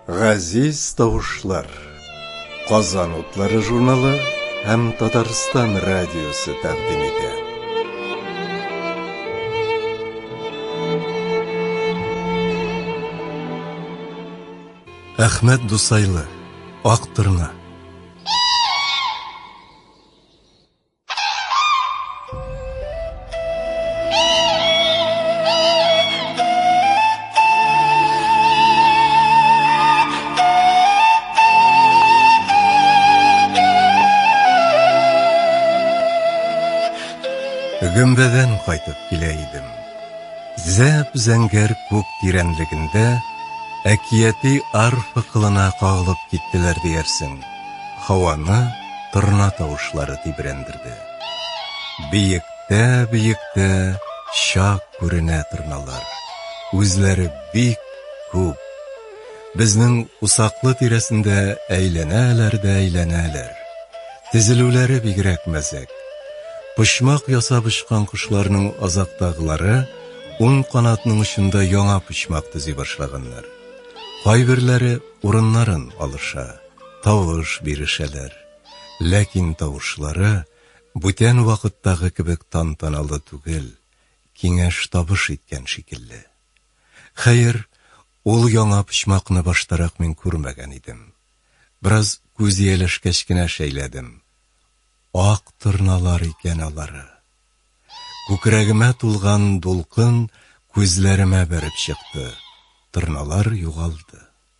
Газиз тавышлар. Казан утлары журналы һәм Татарстан радиосы тәкъдим итә. Әхмәт Дусайлы, Актырна. Гөмбәдән кайтып килә идем. Зәп зәңгәр күк тирәнлегендә әкияти арфа кылына кагылып киттеләр диярсең. Һаваны торна тавышлары тибрәндерде. Биектә-биектә чак күренә торналар. Үзләре бик күп. Безнең усаклы тирәсендә әйләнәләр дә әйләнәләр. Тезелүләре бигрәк мәзәк. Почмак ясап очкан кошларның азактагылары ун канатның очында яңа почмак төзи башлаганнар. Кайберләре урыннарын алыша. тавыш бирешәләр. Ләкин тавышлары бүтән вакыттагы кебек тантаналы түгел, киңәш-табыш иткән шикелле. Хәер, ул яңа почмакны баштарак мин күрмәгән идем. Бераз күз ияләшкәч кенә шәйләдем. Ак торналар икән алары. Күкрәгемә тулган дулкын күзләремә бәреп чыкты, торналар югалды.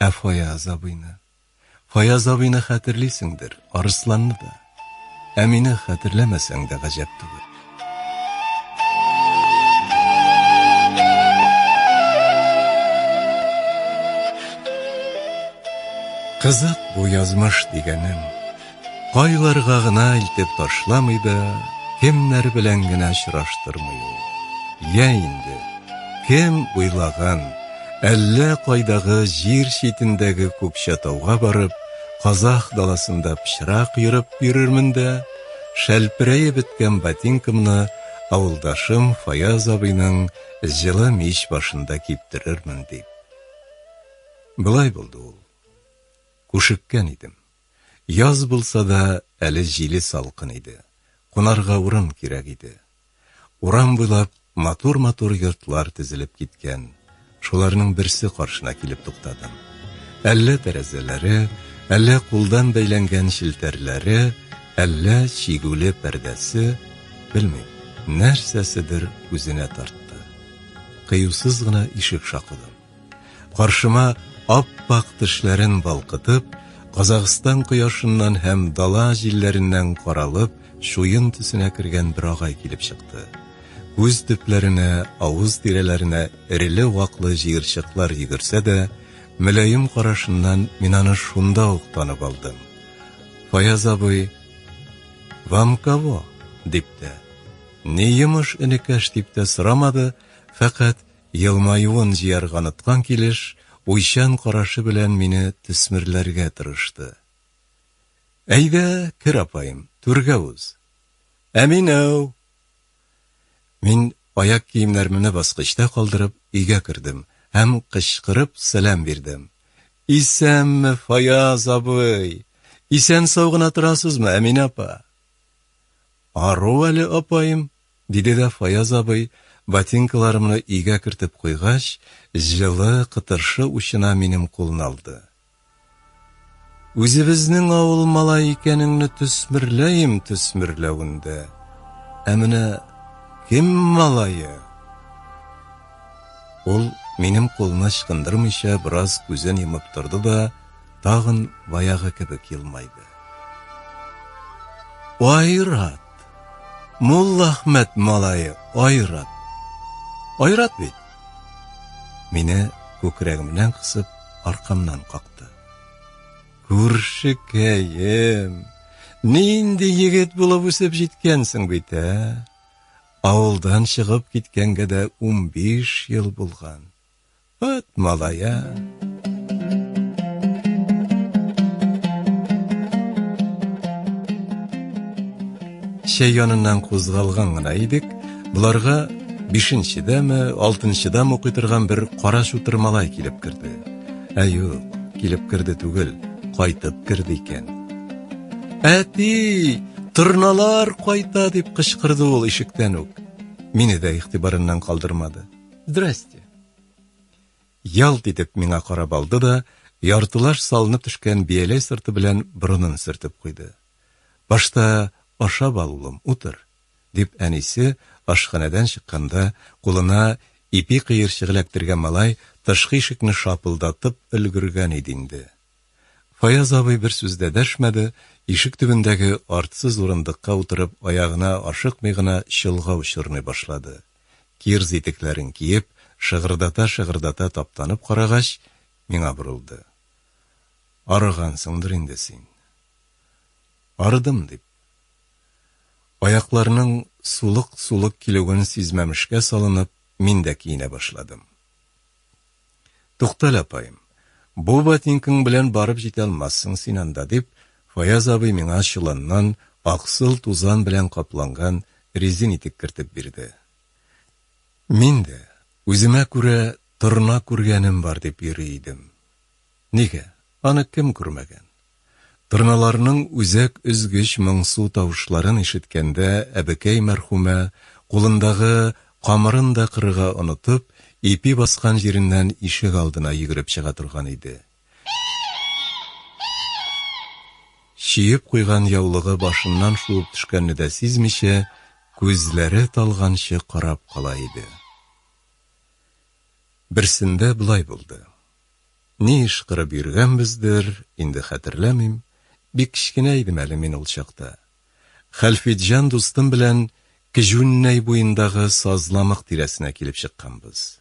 Ә Фаяз абыйны? Фаяз абыйны хәтерлисеңдер, Арысланны да. Ә мине хәтерләмәсәң дә гаҗәп түгел. Кызык бу язмыш дигәнең, Кайларга гына илтеп ташламый да, кемнәр белән генә очраштырмый ул. Йә инде, кем уйлаган, әллә кайдагы җир читендәге Күкчәтауга барып, казах даласында пычрак ерып йөрермен дә, шәлперәеп беткән ботинкамны авылдашым Фаяз абыйның җылы мич башында киптерермен дип. Болай булды ул. Күшеккән идем. Яз булса да, әле җиле салкын иде. Кунарга урын кирәк иде. Урам буйлап матур-матур йортлар тезелеп киткән. Шуларның берсе каршына килеп туктадым. Әллә тәрәзәләре, әллә кулдан бәйләнгән челтәрләре, әллә чигүле пәрдәсе, белмим, нәрсәседер үзенә тартты. Кыюсыз гына ишек шакыдым. Каршыма ап-ак тешләрен балкытып, Казахстан кояшыннан һәм дала җилләреннән каралып, чуен төсенә кергән бер агай килеп чыкты. Күз төпләренә, авыз тирәләренә эреле-ваклы җыерчыклар йөгерсә дә, мөлаем карашыннан мин аны шунда ук танып алдым. Фаяз абый, вам кого? дип тә, ни йомыш энекәш дип тә сорамады, фәкать Елмаюын җыярга оныткан килеш, уйчан карашы белән мине төсмерләргә тырышты. Әйдә, кер, апаем, түргә уз. Ә мин, әү! Мин, аяк киемнәрмне баскычта калдырып, өйгә кердем һәм кычкырып сәлам бирдем. Исәнме, Фаяз абый! Исән-сау гына торасызмы, Әминә апа? Ару әле, апаем, Диде дә Фаяз абый, ботинкаларымны өйгә кертеп куйгач, җылы, кытыршы учына минем кулны алды. Үзебезнең авыл малае икәнеңне төсмерләем төсмерләвен дә, ә менә кем малае? Ул, минем кулны ычкындырмыйча, бераз күзен йомып торды да, тагын баягы кебек елмайды. Айрат! Мулла Ахмәт малае Айрат. Айрат бит. Мине күкрәгемнән кысып, аркамнан какты. Күршекәем, нинди егет булып үсеп җиткәнсең бит, ә? Авылдан чыгып киткәнгә дә 15 ел булган. Вәт малая! чәй яныннан кузгалган гына идек, боларга бишенчедәме, алтынчыдам укый торган бер кара шутыр малай килеп керде. Ә юк, килеп керде түгел, кайтып керде икән. Әти, торналар кайта, дип кычкырды ул ишектән үк. Мине дә игътибарыннан калдырмады. Здрасте! Ялт итеп миңа карап алды да, яртылаш салынып төшкән бияләй сырты белән борынын сөртеп куйды. Башта ашап ал, улым, утыр, дип әнисе ашханәдән чыкканда, кулына ипи кыерчыгы эләктергән малай тышкы ишекне шапылдатып өлгергән иде инде. Фаяз абый бер сүз дә дәшмәде, ишек төбендәге артсыз урындыкка утырып, аягына ашыкмый гына чолгау чорный башлады. Кирз итекләрен киеп, шыгырдата-шыгырдата таптанып карагач, миңа борылды. Арыгансыңдыр инде син. Арыдым, дип. Аякларның сулык-сулык килүен сизмәмешкә салынып, мин дә киенә башладым. Туктале, апаем, бу ботинкаң белән барып җитә алмассың син анда, дип, Фаяз абый миңа чоланнан аксыл тузан белән капланган резин итек кертеп бирде. Мин дә, үземә күрә торна күргәнем бар, дип йөри идем. Нигә? Аны кем күрмәгән? Торналарның үзәк өзгеч моңсу тавышларын ишеткәндә әбекәй мәрхүмә, кулындагы камырын да кырырга онытып, ипи баскан җиреннән ишек алдына йөгереп чыга торган иде. Чиеп куйган яулыгы башыннан шуып төшкәнне дә сизмичә, күзләре талганчы карап кала иде. Берсендә болай булды. Ни эш кырып йөргәнбездер, инде хәтерләмим, бик кечкенә идем әле мин ул чакта. Хәлфитҗан дустым белән Кҗүннәй буендагы сазламык тирәсенә килеп чыкканбыз.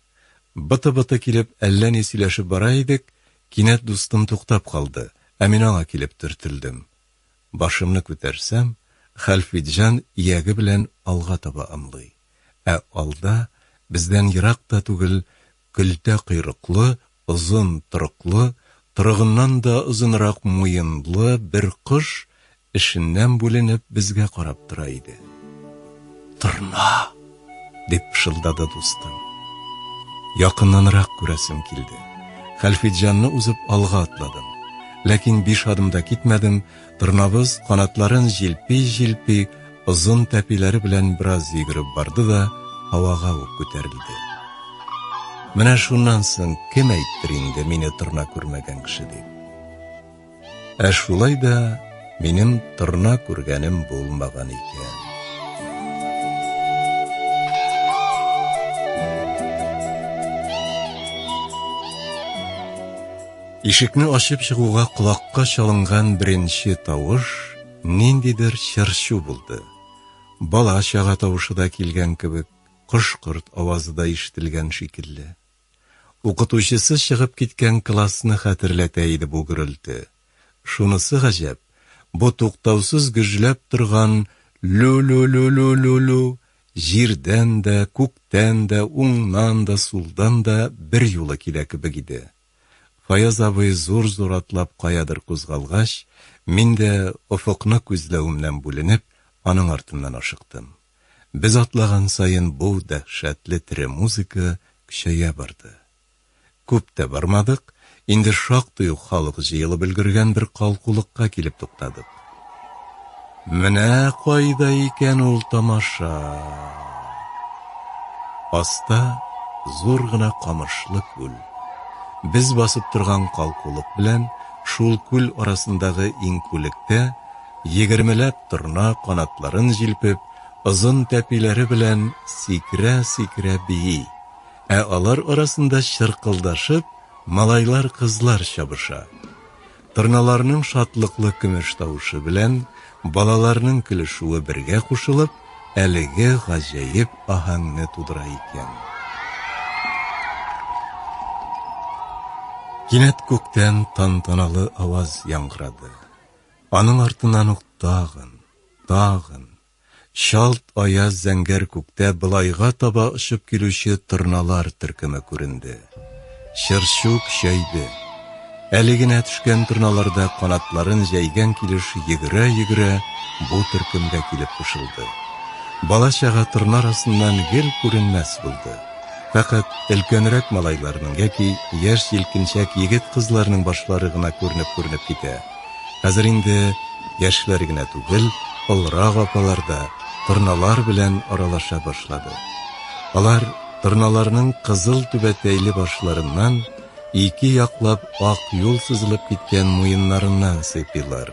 Быты-быты килеп әллә ни сөйләшеп бара идек, кинәт дустым туктап калды, ә мин аңа килеп төртелдем. Башымны күтәрсәм, Хәлфитҗан ияге белән алга таба ымлый, ә алда, бездән ерак та түгел, Көлтә койрыклы, озын торыклы, торыгыннан да озынрак муенлы бер кош эшеннән бүленеп безгә карап тора иде. Торна! дип пышылдады дустым. Якыннанрак күрәсем килде. Хәлфетҗанны узып алга атладым. Ләкин биш адым да китмәдем, Торнабыз канатларын җилпи-җилпи, озын тәпиләре белән бераз йөгереп барды да, һавага ук күтәрелде. Менә шуннан соң кем әйттер инде мине торна күрмәгән кеше дип. Ә шулай да минем торна күргәнем булмаган икән. Ишекне ачып чыгуга колакка чалынган беренче тавыш ниндидер чыр-чу булды. Бала-чага тавышы да килгән кебек, кош-корт авазы да ишетелгән шикелле. Укытучысы чыгып киткән классны хәтерләтә иде бу гөрелте. Шунысы гаҗәп, бу туктаусыз гөжләп торган лү-лү-лү-лү-лү-лү җирдән дә, күктән дә, уңнан да, сулдан да берьюлы килә кебек иде. Фаяз абый зур-зур атлап каядыр кузгалгач, мин дә, офыкны күзләвемнән бүленеп, аның артыннан ашыктым. Без атлаган саен бу дәһшәтле тере музыка көчәя барды. Күп тә бармадык, инде шактый ук халык җыелып өлгергән бер калкулыкка килеп туктадык. Менә кайда икән ул тамаша. Аста зур гына камышлы күл. Без басып торган калкулык белән шул күл арасындагы иңкүлектә егермеләп торна канатларын җилпеп, озын тәпиләре белән сикерә-сикерә бии. Ә алар арасында чыркылдашып малайлар-кызлар чабыша. Торналарның шатлыклы көмеш тавышы белән балаларның көлешүе бергә кушылып, әлеге гаҗәеп аһәңне тудыра икән. Кинәт күктән тантаналы аваз яңгырады. Аның артыннан ук тагын, тагын, чалт аяз зәңгәр күктә былайга таба очып килүче торналар төркеме күренде. Чырчук чәйде. Әле генә төшкән торналарда канатларын җәйгән килеш йөгерә-йөгерә бу төркемгә килеп кушылды. Бала-чага торна арасыннан гел күренмәс булды. Фәкать өлкәнрәк малайларның яки яшь җилкенчәк егет-кызларның башлары гына күренеп-күренеп китә. Хәзер инде яшьләр генә түгел, олырак апалар да торналар белән аралаша башлады. Алар торналарның кызыл түбәтәйле башларыннан, ике яклап ак юл сызылып киткән муеннарыннан сыйпыйлар.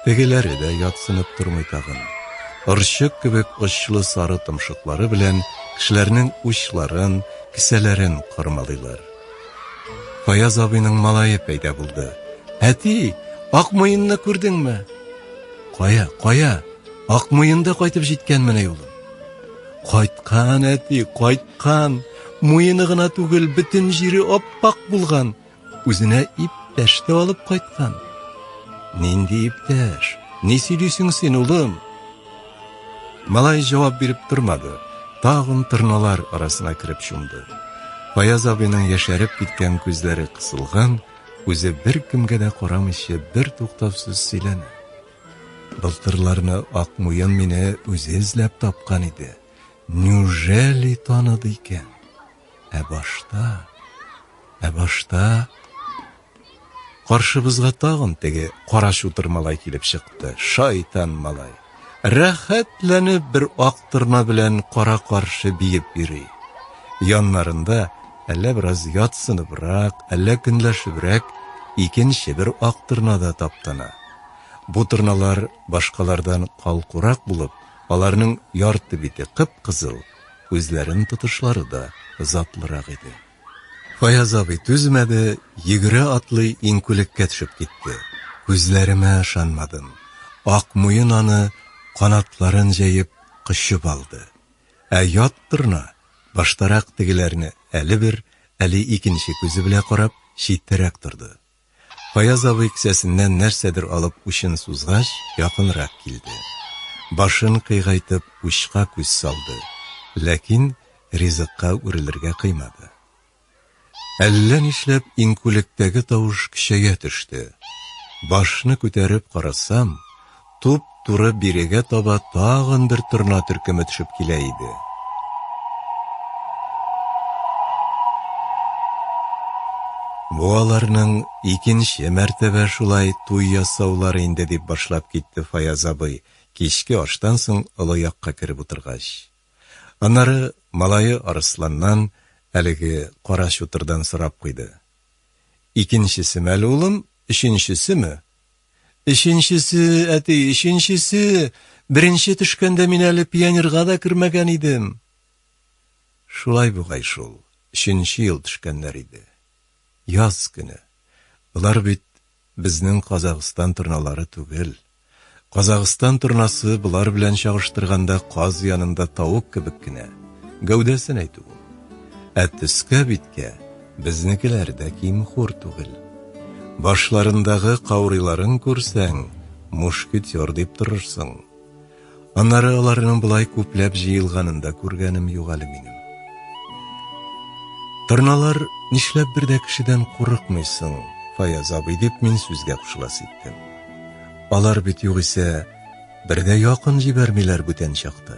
Тегеләре дә ятсынып тормый тагын. Орчык кебек очлы сары томшыклары белән кешеләрнең учларын, кесәләрен кармалыйлар. Фаяз абыйның малае пәйда булды. Әти, Акмуенны күрдеңме? Кая, кая? Акмуенда кайтып җиткән менә юлы. Кайткан әти, кайткан. Муены гына түгел, бөтен җире аппак булган. Үзенә иптәш тә алып кайткан. Нинди иптәш? Ни сөйлисең син, улым? Малай җавап биреп тормады, тагын тырналар арасына кереп чумды. Фаяз абыйның яшәреп киткән күзләре кысылган, үзе бер кемгә дә карамыйча бер туктавсыз сөйләнә. Былтырларны Акмуен мине үзе эзләп тапкан иде. Неужели таныды икән? Ә башта, ә башта Каршыбызга тагын теге кара чутыр малай килеп чыкты. Шайтан малай! Рәхәтләнеп бер ак торна белән кара-каршы биеп йөри. Яннарында әллә бераз ятсыныбрак, әллә көнләшебрәк икенче бер ак торна да таптана. Бу торналар башкалардан калкурак булып, аларның ярты бите кып-кызыл, күзләрен тотышлары да затлырак иде. Фаяз абый түзмәде, йөгерә атлый иңкүлеккә төшеп китте. Күзләремә ышанмадым. Ак муен аны канатларын җәеп кочып алды. Ә ят торна, баштарак тегеләрне әле бер, әле икенче күзе белә карап, читтәрәк торды. Фаяз абый кесәсеннән нәрсәдер алып учын сузгач, якынрак килде. Башын кыйгайтып, учка күз салды, ләкин ризыкка үрелергә кыймады. Әллә нишләп иңкүлектәге тавыш көчәя төште. Башны күтәреп карасам, Туп-туры бирегә таба тагын бер торна төркеме төшеп килә иде. Бу аларның икенче мәртәбә шулай туй ясаулары инде, дип башлап китте Фаяз абый, кичке аштан соң олы якка кереп утыргач. Аннары малае Арысланнан, әлеге кара чутырдан сорап куйды. Икенчесеме әле, улым, өченчесеме? Өченчесе, әти, өченчесе! Беренче төшкәндә мин әле пионерга да кермәгән идем. Шулай бугай шул, өченче ел төшкәннәр иде. Яз көне. Болар бит безнең Казагыстан торналары түгел. Казагыстан торнасы болар белән чагыштырганда каз янында тавык кебек кенә, гәүдәсен әйтү ул. Ә төскә-биткә, Безнекеләр дә ким-хур түгел. Башларындагы каурыйларын күрсәң, мушкетер дип торырсың. Аннары аларның болай күпләп җыелганын да күргәнем юк әле минем. Торналар, нишләп бер дә кешедән курыкмыйсың, Фаяз абый, дип мин сүзгә кушыласы иттем. Алар бит югыйсә бер дә якын җибәрмиләр бүтән чакта.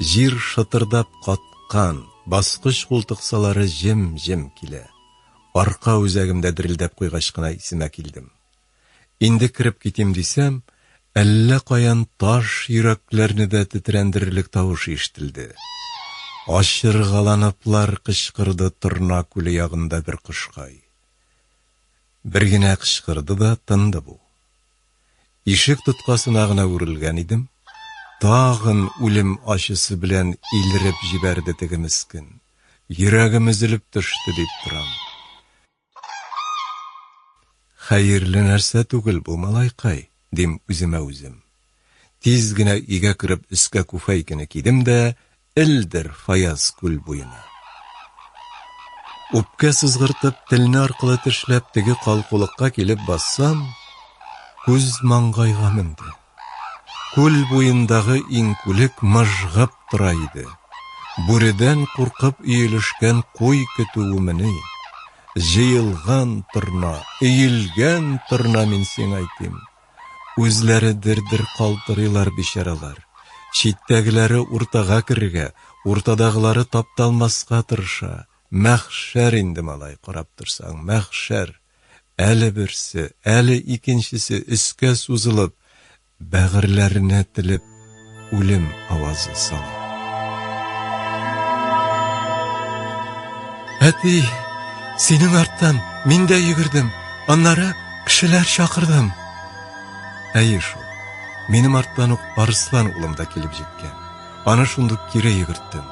Җир шытырдап каткан, баскыч култыксалары җем-җем килә. Арка үзәгемдә дерелдәп куйгач кына исемә килдем. Инде кереп китим дисәм, әллә каян таш йөрәкләрне дә тетрәндерерлек тавыш ишетелде. Ачыргаланыплар кычкырды Торна күле ягында бер кошкай. Бер генә кычкырды да тынды бу. Ишек тоткасына гына үрелгән идем, тагын үлем ачысы белән илереп җибәрде теге мескен. Йөрәгем өзелеп төште, дип торам. Хәерле нәрсә түгел бу, малайкай, дим үземә үзем. Тиз генә өйгә кереп өскә күфәйкене кидем дә, Элдер Фаяз күл буена. Үпкә сызгыртып, телне аркылы тешләп, теге калкулыкка килеп бассам, күз маңгайга менде. Күл буендагы иңкүлек мыжгып тора иде. Бүредән куркып өелешкән куй көтүемени. Җыелган торна, өелгән торна мин сиңа әйтим. Үзләре дер-дер калтырыйлар бичаралар. Читтәгеләре уртага керергә, уртадагылары тапталмаска тырыша. Мәхшәр инде, малай, карап торсаң, мәхшәр! Әле берсе, әле икенчесе өскә сузылып, бәгырьләренә телеп. үлем авазы сала. Әти, синең арттан мин дә йөгердем, аннары кешеләр чакырдым. Әйе шул, минем арттан ук Арыслан улым да килеп җиткән. Аны шундук кире йөгерттем.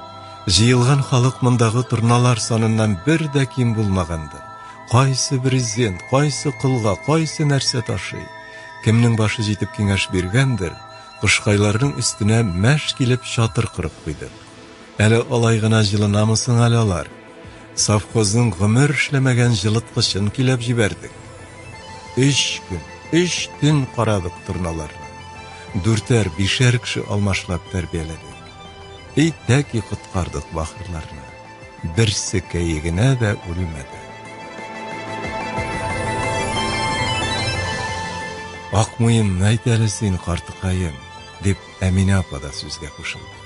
Җыелган халык мондагы торналар саныннан бер дә ким булмаганды. Кайсы брезент, кайсы кылга, кайсы нәрсә ташый. Кемнең башы җитеп киңәш биргәндер, Кошкайларның өстенә мәш килеп чатыр корып куйдык. Әле алай гына җылынамы соң әле алар? Совхозның гомер эшләмәгән җылыткычын көйләп җибәрдек. Өч көн, өч төн карадык торналарны. Дүртәр, бишәр кеше алмашлап тәрбияләдек. И тәки коткардык бахырларны. берсекәе генә дә үлмәде. Акмуен найт әле син, картыкаем, дип Әминә апа да сүзгә кушылды.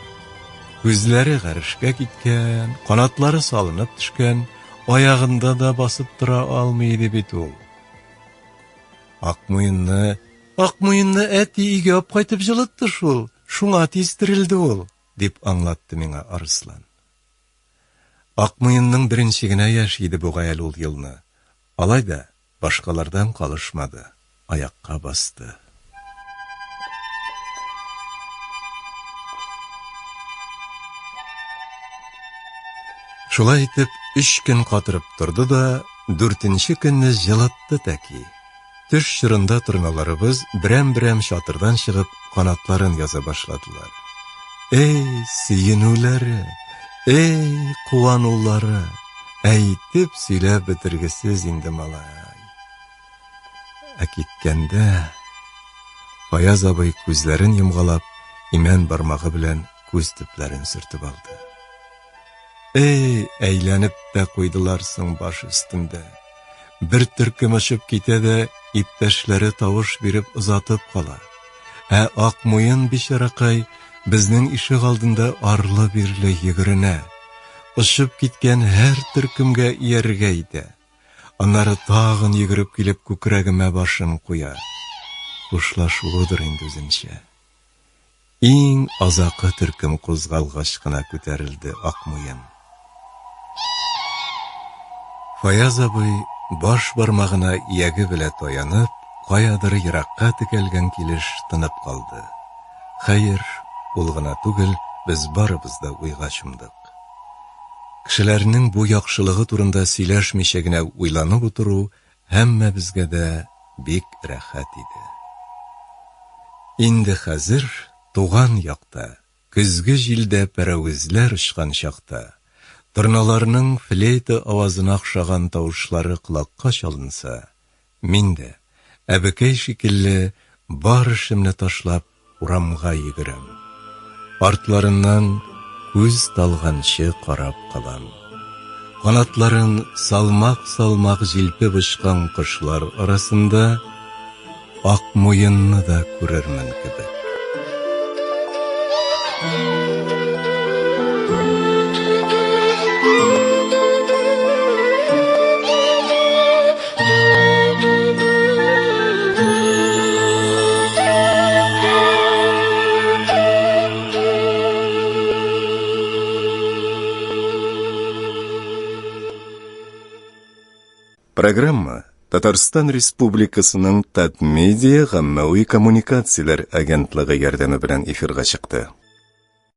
Күзләре гарешкә киткән, канатлары салынып төшкән, аягында да басып тора алмый иде бит ул. Акмуенны, Акмуенны әти өйгә алып кайтып җылытты шул, шуңа тиз терелде ул, дип аңлатты миңа Арыслан. Акмуенның беренче генә яше иде бугай әле ул елны. Алай да, башкалардан калышмады, аякка басты. Шулай итеп, өч көн катырып торды да, дүртенче көнне җылытты тәки. Төш чорында торналарыбыз берәм-берәм чатырдан чыгып, канатларын яза башладылар. Эй, сөенүләре, эй, куанулары, әйтеп сөйләп бетергесез инде малай. Ә киткәндә Фаяз абый күзләрен йомгалап, имән бармагы белән күз төпләрен сөртеп алды. Эй, әйләнеп тә куйдылар соң баш өстендә. Бер төркем очып китә дә, иптәшләре тавыш биреп озатып кала. Ә Акмуен бичаракай безнең ишек алдында арлы-бирле йөгеренә. Очып киткән һәр төркемгә иярергә итә. Аннары тагын йөгереп килеп күкрәгемә башын куя. Хушлашуыдыр инде үзенчә. Иң азакы төркем кузгалгач кына күтәрелде Акмуен. Фаяз абый, баш бармагына ияге белә таянып, каядыр еракка текәлгән килеш тынып калды. Хәер, ул гына түгел, без барыбыз да уйга чумдык. Кешеләрнең бу яхшылыгы турында сөйләшмичә генә уйланып утыру Һәммәбезгә дә бик рәхәт иде. Инде хәзер туган якта, көзге җилдә пәрәвезләр очкан чакта, торналарның флейта авазына охшаган тавышлары колакка чалынса, мин дә, әбекәй шикелле, бар эшемне ташлап, Урамга йөгерәм. Артларыннан күз талганчы карап калам. Канатларын салмак-салмак җилпеп очкан кошлар арасында Акмуенны да күрермен кебек. Программа Татарстан Республикасының Татмедиа гаммәви коммуникацияләр агентлыгы ярдәме белән эфирга чыкты.